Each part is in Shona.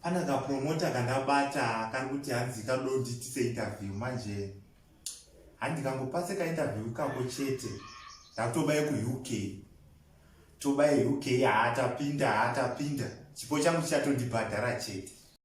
pane kapromota kandabata kari kuti hanzi kadonditise interview manje handikangopase kainterview kako chete ndatoba yekuuk toba yeuk haatapinda haatapinda chipo changu chichatondibhadhara chete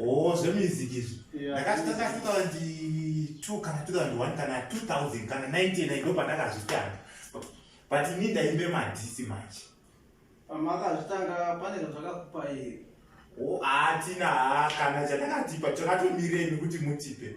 Oh, zvemusic izvi ndakati ndakafika ndi 2 kana 2001 kana 2000 kana 99 ndo pandakazvitanga but ini ndaimbe madhisi manje pamakazvitanga pane zvakakupa here atina kana chandakatipa chakatomireni kuti mutipe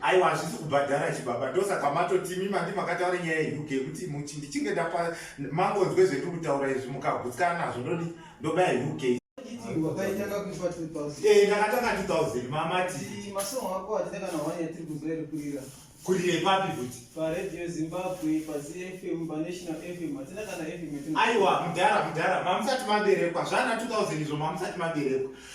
aiwa hazvisi kubhadhara chibaba ndosaka matotimi mandi makataura nyaya yeuk yekuti muchi ndichinge ndapa mangonzwe zvetiri kutaura izvi mukagutsana nazvo ndodi ndobaya uk eh, ndakatanga 2000 mamati kurire papi futi paradio zimbabwe pazfm panational fm hatina kana fm aiwa mudhara mudhara mamusati maberekwa zvana 2000 izvo mamusati maberekwa